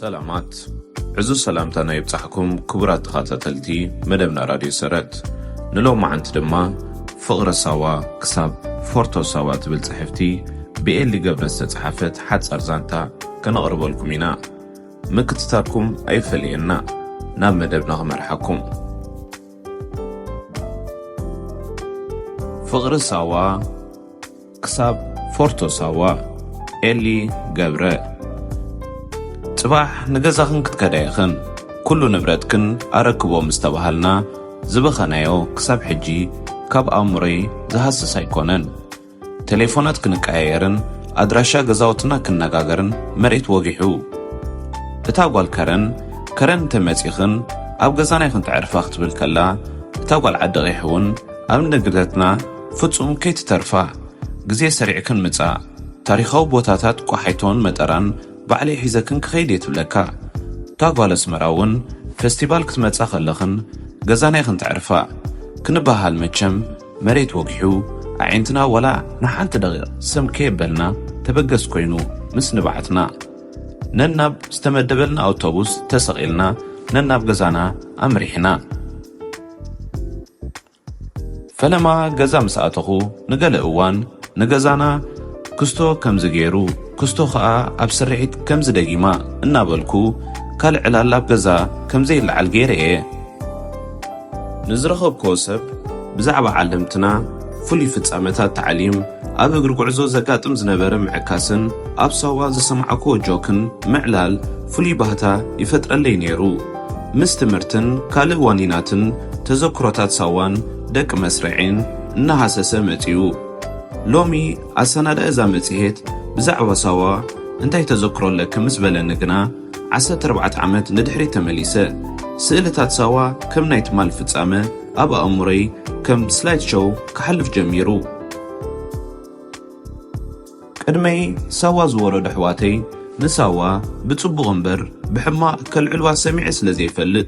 ሰላማት ዕዙዝ ሰላምታና ይብጻሕኩም ክቡራት ተኸታተልቲ መደብና ራድዮ ሰረት ንሎማዓንቲ ድማ ፍቕሪ ሳዋ ክሳብ ፎርቶ ሳዋ ትብል ጽሕፍቲ ብኤሊ ገብረ ዝተጽሓፈት ሓጻር ዛንታ ከነቕርበልኩም ኢና ምክትታልኩም ኣይፈለየና ናብ መደብና ክመርሓኩም ፍቕሪ ሳዋ ክሳብ ፎርቶ ሳዋ ኤሊ ገብረ። ጽባሕ ንገዛኽን ክትከዳ ኢኽን ኩሉ ንብረትክን ኣረክቦ ምስ ተባሃልና ዝበኸናዮ ክሳብ ሕጂ ካብ ኣእምሮይ ዝሃስስ ኣይኮነን። ተሌፎናት ክንቀያየርን ኣድራሻ ገዛውትና ክንነጋገርን መሬት ወጊሑ። እታ ጓል ከረን ከረን እንተ መጺኽን ኣብ ገዛና ኢኽን ተዕርፋ ክትብል ከላ እታ ጓል ዓዲ ቒሕ ውን ኣብ ንግደትና ፍጹም ከይትተርፋ ግዜ ሰሪዕክን ምጻእ ታሪኻዊ ቦታታት ቆሓይቶን መጠራን ባዕለይ ሒዘክን ክኸይድ እየ ትብለካ እታ ጓል ኣስመራ ውን ፈስቲቫል ክትመጻ ከለኽን ገዛና ኢኽን ተዕርፋ ክንበሃል መቸም መሬት ወጊሑ ኣዒንትና ዋላ ንሓንቲ ደቂቕ ስም ከየበልና ተበገስ ኮይኑ ምስ ንብዓትና ነናብ ዝተመደበልና ኣውቶቡስ ተሰቒልና ነናብ ገዛና ኣምሪሕና። ፈለማ ገዛ ምስ ኣተኹ ንገለ እዋን ንገዛና ክስቶ ከምዚ ገይሩ ክስቶ ከኣ ኣብ ስርሒት ከምዚ ደጊማ እናበልኩ ካልእ ዕላል ኣብ ገዛ ከምዘይለዓል ገይረ እየ። ንዝረኸብኩዎ ሰብ ብዛዕባ ዓለምትና፣ ፍሉይ ፍጻመታት ታዕሊም፣ ኣብ እግሪ ጉዕዞ ዘጋጥም ዝነበረ ምዕካስን ኣብ ሳዋ ዝሰማዕኩዎ ጆክን ምዕላል ፍሉይ ባህታ ይፈጥረለይ ነይሩ። ምስ ትምህርትን ካልእ ዋኒናትን ተዘክሮታት ሳዋን ደቂ መስርዔን እናሃሰሰ መጺኡ። ሎሚ ኣሰናዳኢ እዛ መጽሔት ብዛዕባ ሳዋ እንታይ ተዘክሮ ኣለኪ ምስ በለኒ ግና ዓሰርተ ኣርባዕተ ዓመት ንድሕሪት ተመሊሰ። ስእልታት ሳዋ ከም ናይ ትማል ፍጻመ ኣብ ኣእምሮይ ከም ስላይድሾው ክሓልፍ ጀሚሩ። ቅድመይ ሳዋ ዝወረዱ ኣሕዋተይ ንሳዋ ብጽቡቕ እምበር ብሕማቕ ከልዕልዋ ሰሚዐ ስለ ዘይፈልጥ፣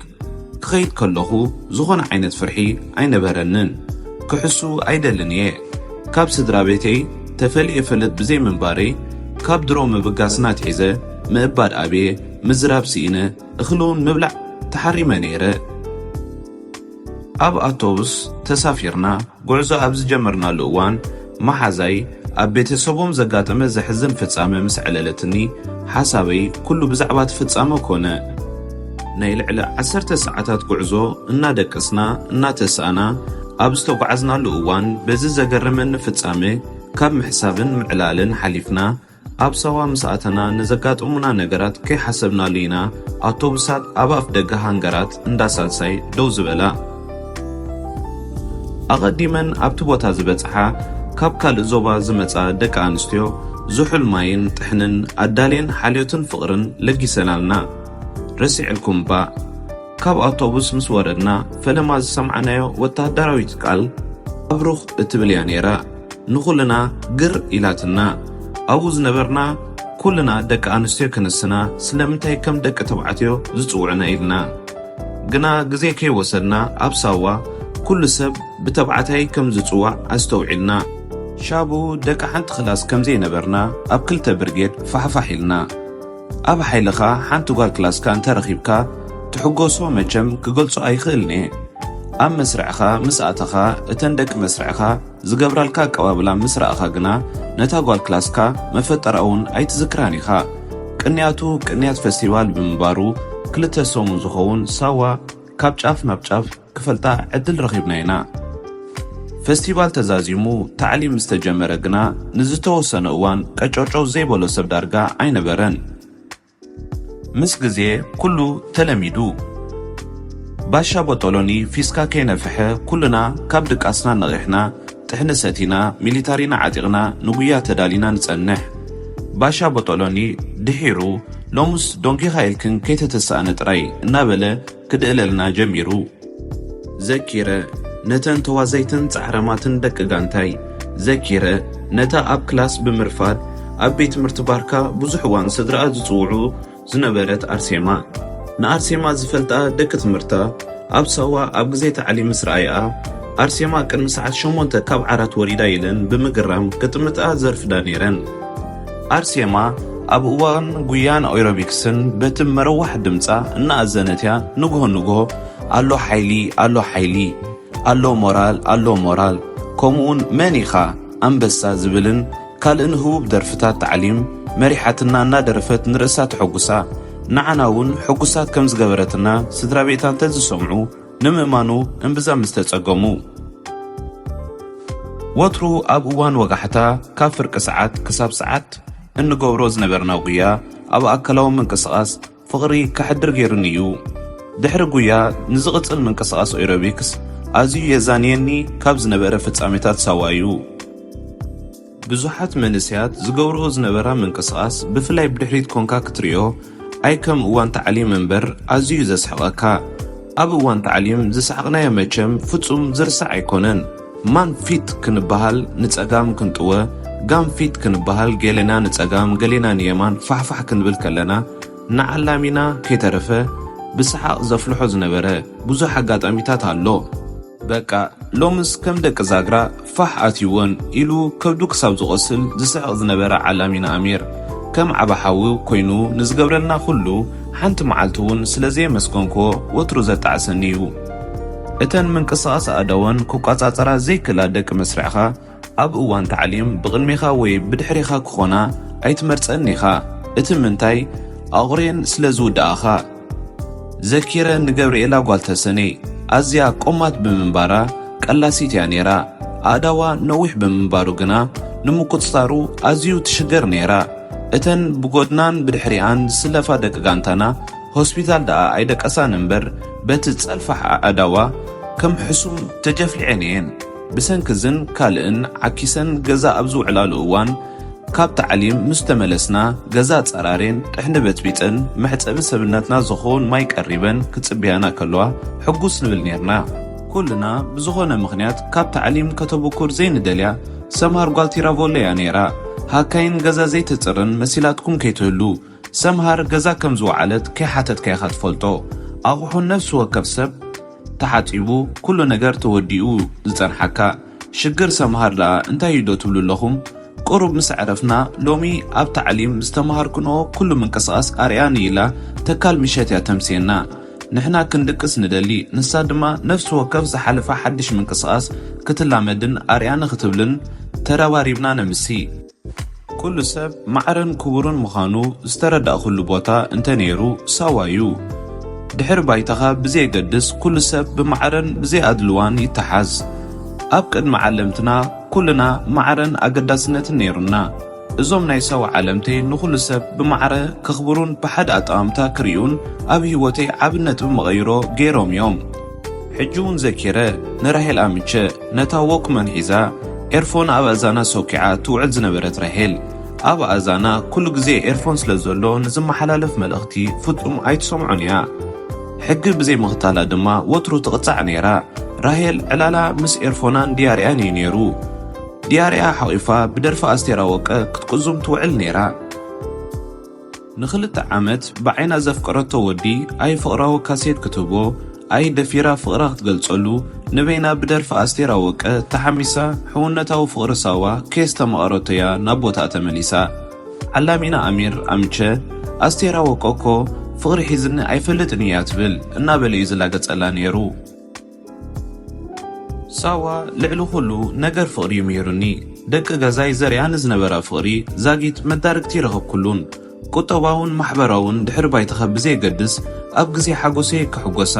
ክኸይድ ከለኹ ዝኾነ ዓይነት ፍርሒ ኣይነበረንን። ክሕሱ ኣይደልን እየ። ካብ ስድራቤተይ ተፈልየ እፈልጥ ብዘይ ምንባረይ፣ ካብ ድሮ ምብጋስና ኣትሒዘ ምእባድ ኣብየ፣ ምዝራብ ስኢነ፣ እኽሊ'ውን ምብላዕ ተሓሪመ ነይረ። ኣብ ኣቶቡስ ተሳፊርና ጉዕዞ ኣብ ዝጀመርናሉ እዋን፣ መሓዛይ ኣብ ቤተሰቦም ዘጋጠመ ዘሕዝን ፍጻመ ምስ ኣዕለለትኒ፣ ሓሳበይ ኩሉ ብዛዕባ'ቲ ፍጻመ ኮነ። ናይ ልዕሊ ዓሰርተ ሰዓታት ጉዕዞ እናደቀስና እናተሳእና ኣብ ዝተጓዓዝናሉ እዋን፣ በዚ ዘገረመኒ ፍጻመ ካብ ምሕሳብን ምዕላልን ሓሊፍና፣ ኣብ ሳዋ ምስ ኣተና ንዘጋጠሙና ነገራት ከይሓሰብናሉ ኢና ኣውቶቡሳት ኣብ ኣፍደገ ሃንገራት እንዳ ሳልሳይ ደው ዝበላ። ኣቐዲመን ኣብቲ ቦታ ዝበጽሓ ካብ ካልእ ዞባ ዝመጻ ደቂ ኣንስትዮ ዝሑል ማይን ጥሕንን ኣዳልየን ሓልዮትን ፍቕርን ለጊሰናልና። ረሲዕልኩም ባእ። ካብ ኣውቶቡስ ምስ ወረድና ፈለማ ዝሰምዓናዮ ወተሃደራዊት ቃል ኣብሩኽ እትብል እያ ነይራ። ንኹልና ግር ኢላትና ኣብኡ ዝነበርና ኩልና ደቂ ኣንስትዮ ክንስና ስለምንታይ ከም ደቂ ተባዕትዮ ዝጽውዑና ኢልና ግና ግዜ ከይወሰድና ኣብ ሳዋ ኩሉ ሰብ ብተባዕታይ ከም ዝጽዋዕ ኣስተውዒልና። ሻቡ ደቂ ሓንቲ ክላስ ከምዘይነበርና ኣብ ክልተ ብርጌድ ፋሕፋሕ ኢልና። ኣብ ሓይልኻ ሓንቲ ጓል ክላስካ እንተ ረኺብካ ትሕጎሶ መቸም ክገልጾ ኣይኽእልን እየ ኣብ መስርዕኻ ምስ ኣተኻ እተን ደቂ መስርዕኻ ዝገብራልካ ኣቀባብላ ምስ ረኣኻ ግና ነታ ጓል ክላስካ መፈጠራ ውን ኣይትዝክራን ኢኻ ቅንያቱ ቅንያት ፈስቲቫል ብምንባሩ ክልተ ሰሙን ዝኸውን ሳዋ ካብ ጫፍ ናብ ጫፍ ክፈልጣ ዕድል ረኺብና ኢና። ፈስቲቫል ተዛዚሙ ታዕሊም ምስ ተጀመረ ግና ንዝተወሰነ እዋን ቀጨውጨው ዘይበሎ ሰብ ዳርጋ ኣይነበረን። ምስ ግዜ ኩሉ ተለሚዱ። ባሻ ቦጦሎኒ ፊስካ ከይነፍሐ ኩልና ካብ ድቃስና ነቒሕና፣ ጥሕኒ ሰቲና፣ ሚሊታሪና ዓጢቕና ንጉያ ተዳሊና ንጸንሕ። ባሻ ቦጦሎኒ ድሒሩ ሎምስ ዶንጊኻ ኢልክን ከይተተሳእነ ጥራይ እናበለ፣ ክድህለልና ጀሚሩ። ዘኪረ፣ ነተን ተዋዘይትን ጻዕራማትን ደቂ ጋንታይ፣ ዘኪረ፣ ነታ ኣብ ክላስ ብምርፋድ ኣብ ቤት ትምህርቲ ባርካ ብዙሕ እዋን ስድራኣ ዝጽውዑ ዝነበረት ኣርሴማ። ንኣርሴማ ዝፈልጣ ደቂ ትምህርታ ኣብ ሳዋ ኣብ ግዜ ታዕሊም ምስ ረኣያኣ፣ ኣርሴማ ቅድሚ ሰዓት ሸሞንተ ካብ ዓራት ወሪዳ ኢለን ብምግራም ክጥምታኣ ዘርፍዳ ነይረን። ኣርሴማ ኣብ እዋን ጉያን ኦይሮቢክስን በቲ መረዋሕ ድምፃ እናኣዘነት እያ ንግሆ ንግሆ ኣሎ ሓይሊ ኣሎ ሓይሊ ኣሎ ሞራል ኣሎ ሞራል ከምኡውን መን ኢኻ ኣንበሳ ዝብልን ካልእን ህቡብ ደርፍታት ታዕሊም መሪሓትና እናደረፈት ንርእሳ ተሐጉሳ ንዓና እውን ሕጉሳት ከም ዝገበረትና ስድራ ቤታ እንተዝሰምዑ ንምእማኑ እምብዛ ምስ ተጸገሙ። ወትሩ ኣብ እዋን ወጋሕታ ካብ ፍርቂ ሰዓት ክሳብ ሰዓት እንገብሮ ዝነበርና ጉያ ኣብ ኣካላዊ ምንቅስቓስ ፍቕሪ ከሕድር ገይሩኒ እዩ። ድሕሪ ጉያ ንዝቕጽል ምንቅስቓስ ኦይሮቢክስ ኣዝዩ የዛንየኒ ካብ ዝነበረ ፍጻሜታት ሳዋ እዩ። ብዙሓት መንእሰያት ዝገብርኦ ዝነበራ ምንቅስቓስ ብፍላይ ብድሕሪት ኮንካ ክትርእዮ ኣይ ከም እዋን ታዕሊም እምበር ኣዝዩ ዘስሕቐካ ኣብ እዋን ታዕሊም ዝሰሓቕናዮ መቸም ፍጹም ዝርሳዕ ኣይኮነን ማን ፊት ክንበሃል ንጸጋም ክንጥወ ጋም ፊት ክንበሃል ገሌና ንጸጋም ገሌና ንየማን ፋሕፋሕ ክንብል ከለና ንዓላሚና ከይተረፈ ብሰሓቕ ዘፍልሖ ዝነበረ ብዙሕ ኣጋጣሚታት ኣሎ። በቃ ሎምስ ከም ደቂ ዛግራ ፋሕ ኣትዩወን ኢሉ ከብዱ ክሳብ ዝቖስል ዝስሕቕ ዝነበረ ዓላሚና ኣሚር፣ ከም ዓቢ ሓው ኮይኑ ንዝገብረልና ኹሉ ሓንቲ መዓልቲ'ውን ስለ ዘየመስገንክዎ ወትሩ ዘጣዕሰኒ'ዩ። እተን ምንቅስቓስ ኣእዳወን ክቋጻጸራ ዘይክእላ ደቂ መስርዕኻ፣ ኣብ እዋን ታዕሊም ብቕድሜኻ ወይ ብድሕሬኻ ክኾና ኣይትመርጸን ኢኻ እቲ ምንታይ ኣቑሬን ስለ ዝውድኣኻ። ዘኪረ ንገብርኤላ ጓል ተሰነይ ኣዝያ ቆማት ብምንባራ ቀላሲት እያ ኔራ ኣእዳዋ ነዊሕ ብምንባሩ ግና ንምቁጽጻሩ ኣዝዩ ትሽገር ኔራ እተን ብጎድናን ብድሕሪኣን ዝስለፋ ደቂ ጋንታና ሆስፒታል ደኣ ኣይደቀሳን እምበር በቲ ጸልፋሕ ኣእዳዋ ከም ሕሱም ተጀፍሊዔን እየን ብሰንኪ እዝን ካልእን ዓኪሰን ገዛ ኣብ ዝውዕላሉ እዋን፣ ካብ ታዕሊም ምስ ተመለስና ገዛ ጸራሪን ጥሕኒ በጽቢጸን መሕጸቢ ሰብነትና ዝኸውን ማይ ቀሪበን ክጽብያና ከለዋ ሕጉስ ንብል ኔርና። ኩልና ብዝኾነ ምኽንያት ካብ ታዕሊም ከተብኩር ዘይንደልያ ሰምሃር ጓል ቲራቮለ እያ ኔራ። ሃካይን ገዛ ዘይተጽርን መሲላትኩም ከይትህሉ። ሰምሃር ገዛ ከም ዝወዓለት ከይሓተትካ ኢኻ ትፈልጦ። ኣቑሑ ነፍሲ ወከፍ ሰብ ተሓጺቡ ኩሉ ነገር ተወዲኡ ዝጸንሓካ። ሽግር ሰምሃር ደኣ እንታይ እዩ ዶ ትብሉ ኣለኹም? ቁሩብ ምስ ኣዕረፍና ሎሚ ኣብ ታዕሊም ዝተመሃርክንኦ ኩሉ ምንቅስቓስ ኣርእያኒ ኢላ ተካል ምሸት እያ ተምስየና። ንሕና ክንድቅስ ንደሊ ንሳ ድማ ነፍሲ ወከፍ ዝሓለፈ ሓድሽ ምንቅስቓስ ክትላመድን ኣርእያኒ ክትብልን ተረባሪብና ነምሲ። ኩሉ ሰብ ማዕረን ክቡርን ምዃኑ ዝተረዳእኩሉ ቦታ እንተ ነይሩ ሳዋ እዩ። ድሕሪ ባይታኻ ብዘየገድስ ኩሉ ሰብ ብማዕረን ብዘይኣድልዋን ይተሓዝ። ኣብ ቅድሚ ዓለምትና ኩልና ማዕረን ኣገዳስነትን ነይሩና። እዞም ናይ ሳዋ ዓለምተይ ንኹሉ ሰብ ብማዕረ ከኽብሩን ብሓደ ኣጠማምታ ክሪኡን ኣብ ህይወተይ ዓቢ ነጥቢ መቐይሮ ገይሮም እዮም። ሕጂ ውን ዘኪረ ንራሄል ኣምቸ ነታ ዎክመን ሒዛ ኤርፎን ኣብ ኣእዛና ሶኪዓ ትውዕል ዝነበረት ራሄል ኣብ ኣእዛና ኩሉ ግዜ ኤርፎን ስለ ዘሎ ንዝመሓላለፍ መልእኽቲ ፍጹም ኣይትሰምዖን ኢያ ሕጊ ብዘይ ምኽታላ ድማ ወትሩ ትቕጻዕ ነይራ ራሄል ዕላላ ምስ ኤርፎናን ድያርያን ኢዩ ነይሩ ድያርያ ሓቒፋ ብደርፊ ኣስቴር ኣወቀ ክትቁዙም ትውዕል ነይራ። ንክልተ ዓመት ብዓይና ዘፍቀረቶ ወዲ ኣይ ፍቅራዊ ካሴት ክትህቦ ኣይ ደፊራ ፍቅራ ክትገልጸሉ ንበይና ብደርፊ ኣስቴር ኣወቀ ተሓሚሳ ሕውነታዊ ፍቅሪ ሳዋ ከየስተማቀረቶያ ናብ ቦታኣ ተመሊሳ ዓላሚና ኣሚር ኣምቸ ኣስቴር ኣወቀ እኮ ፍቅሪ ሒዝኒ ኣይፈልጥን ኢያ ትብል እናበለዩ ዝላገጸላ ኔሩ ሳዋ ልዕሊ ኩሉ ነገር ፍቅሪ እዩ ምሂሩኒ ደቂ ገዛይ ዘርያ ንዝነበራ ፍቅሪ ዛጊት መዳርግቲ ረከብኩሉን ቁጠባውን ማሕበራውን ድሕሪ ባይታካ ብዘየገድስ ኣብ ግዜ ሓጎሰይ ክሕጎሳ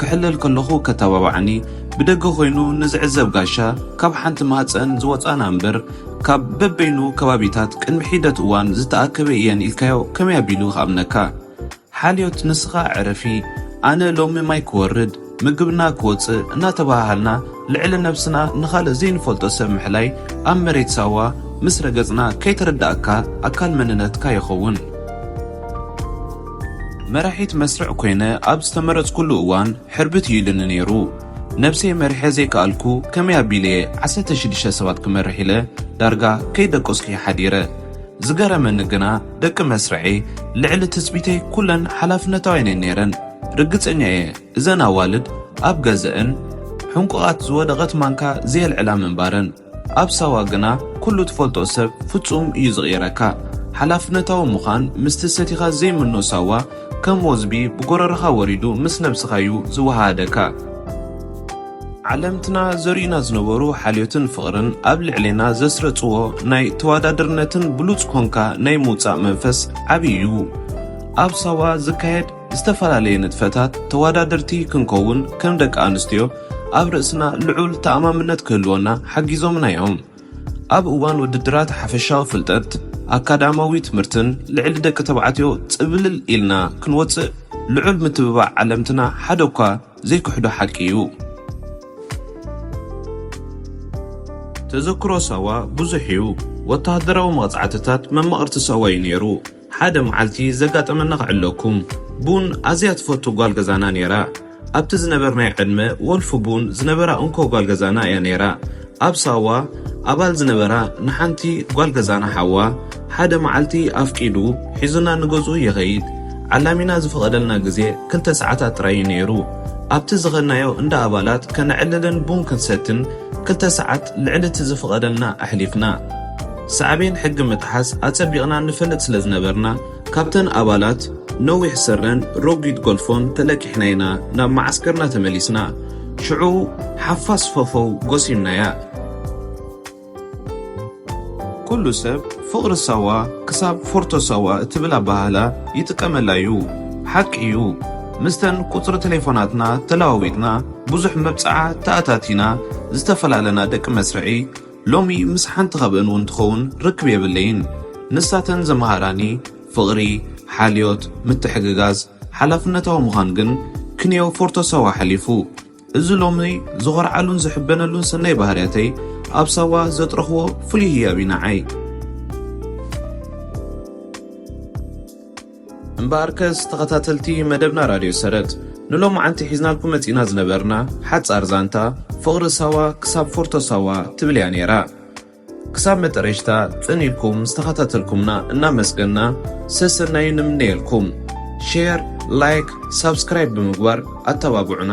ክሕለል ከለኩ ከተባብዓኒ ብደገ ኮይኑ ንዝዕዘብ ጋሻ ካብ ሓንቲ ማህጸን ዝወጻና እምበር ካብ በበይኑ ከባቢታት ቅድሚ ሒደት እዋን ዝተኣከበ እየን ኢልካዮ ከመይ ኣቢሉ ክኣምነካ ሓልዮት ንስኻ ዕረፊ ኣነ ሎሚ ማይ ክወርድ ምግብና ክወጽእ እናተበሃሃልና ልዕሊ ነብስና ንኻልእ ዘይንፈልጦ ሰብ ምሕላይ ኣብ መሬት ሳዋ ምስ ረገጽና ከይተረዳኣካ ኣካል መንነትካ ይኸውን። መራሒት መስርዕ ኮይነ ኣብ ዝተመረጽኩሉ እዋን ሕርብት እዩ ኢሉኒ ነይሩ። ነብሰይ መሪሐ ዘይከኣልኩ ከመይ ኣቢለ'የ ዓሰርተ ሽዱሽተ ሰባት ክመርሕ ኢለ ዳርጋ ከይደቀስኩ'የ ሓዲረ። ዝገረመኒ ግና ደቂ መስርዔይ ልዕሊ ትጽቢተይ ኩለን ሓላፍነታውያን'የን ነይረን። ርግጸኛ'የ እዘን ኣዋልድ ኣብ ገዘእን ሕንቁቓት ዝወደቐት ማንካ ዘየልዕላ ምንባረን። ኣብ ሳዋ ግና ኩሉ ትፈልጦ ሰብ ፍጹም እዩ ዝቕይረካ። ሓላፍነታዊ ምዃን ምስቲ ሰቲኻ ዘይምኖ ሳዋ ከም ወዝቢ ብጎረሮኻ ወሪዱ ምስ ነብስኻ'ዩ ዝወሃሃደካ። ዓለምትና ዘርእዩና ዝነበሩ ሓልዮትን ፍቕርን ኣብ ልዕሌና ዘስረጽዎ ናይ ተዋዳድርነትን ብሉጽ ኮንካ ናይ ምውጻእ መንፈስ ዓቢ እዩ። ኣብ ሳዋ ዝካየድ ዝተፈላለየ ንጥፈታት ተዋዳደርቲ ክንከውን ከም ደቂ ኣንስትዮ ኣብ ርእስና ልዑል ተኣማምነት ክህልወና ሓጊዞምና እዮም። ኣብ እዋን ውድድራት ሓፈሻዊ ፍልጠት፣ ኣካዳማዊ ትምህርትን ልዕሊ ደቂ ተባዕትዮ ጽብልል ኢልና ክንወጽእ ልዑል ምትብባዕ ዓለምትና ሓደ'ኳ ዘይክሕዶ ሓቂ እዩ። ተዘክሮ ሳዋ ብዙሕ እዩ። ወተሃደራዊ መቕጻዕትታት መማቕርቲ ሳዋ እዩ ነይሩ። ሓደ መዓልቲ ዘጋጠመና ክዕለኩም። ቡን ኣዝያ ትፈቱ ጓል ገዛና ነይራ። ኣብቲ ዝነበርናዮ ዕድመ ወልፊ ቡን ዝነበራ እንኮ ጓል ገዛና እያ ነይራ። ኣብ ሳዋ ኣባል ዝነበራ ንሓንቲ ጓል ገዛና ሓዋ ሓደ መዓልቲ ኣፍቂዱ ሒዙና ንገዝኡ ይኸይድ። ዓላሚና ዝፈቐደልና ግዜ ክልተ ሰዓታት ጥራይ እዩ ነይሩ። ኣብቲ ዝኸድናዮ እንዳ ኣባላት ከነዕልልን ቡን ክንሰትን ክልተ ሰዓት ልዕሊ እቲ ዝፍቐደልና ኣሕሊፍና። ሳዕቤን ሕጊ ምጥሓስ ኣጸቢቕና ንፈልጥ ስለ ዝነበርና፣ ካብተን ኣባላት ነዊሕ ስረን ረጒድ ጎልፎን ተለቂሕና ኢና ናብ መዓስከርና ተመሊስና። ሽዑ ሓፋስ ፈፈው ጎሲምናያ። ኩሉ ሰብ ፍቕሪ ሳዋ ክሳብ ፎርቶ ሳዋ እትብል ኣበሃህላ ይጥቀመላ'ዩ። ሓቂ'ዩ። ምስተን ቁጽሪ ተሌፎናትና ተለዋዊጥና ብዙሕ መብጽዓ ተኣታቲና ዝተፈላለና ደቂ መስርዒ፣ ሎሚ ምስ ሓንቲ ካብእን እውን ትኸውን ርክብ የብለይን። ንሳተን ዘምሃራኒ ፍቕሪ፣ ሓልዮት፣ ምትሕግጋዝ፣ ሓላፍነታዊ ምዃን ግን ክንየው ፎርቶ ሳዋ ሓሊፉ። እዚ ሎሚ ዝኾርዓሉን ዝሕበነሉን ሰናይ ባህርያተይ ኣብ ሳዋ ዘጥረኹዎ ፍሉይ ህያብ እዩ ንዓይ። እምበኣርከስ ተኸታተልቲ መደብና ራድዮ ሰረት ንሎማዓንቲ ሒዝናልኩም መጺእና ዝነበርና ሓጻር ዛንታ ፍቕሪ ሳዋ ክሳብ ፎርቶ ሳዋ ትብል እያ ነይራ። ክሳብ መጠረሽታ ጽን ኢልኩም ዝተኸታተልኩምና እናመስገንና ሰሰናዩ ንምነየልኩም። ሼር፣ ላይክ፣ ሳብስክራይብ ብምግባር ኣተባብዑና።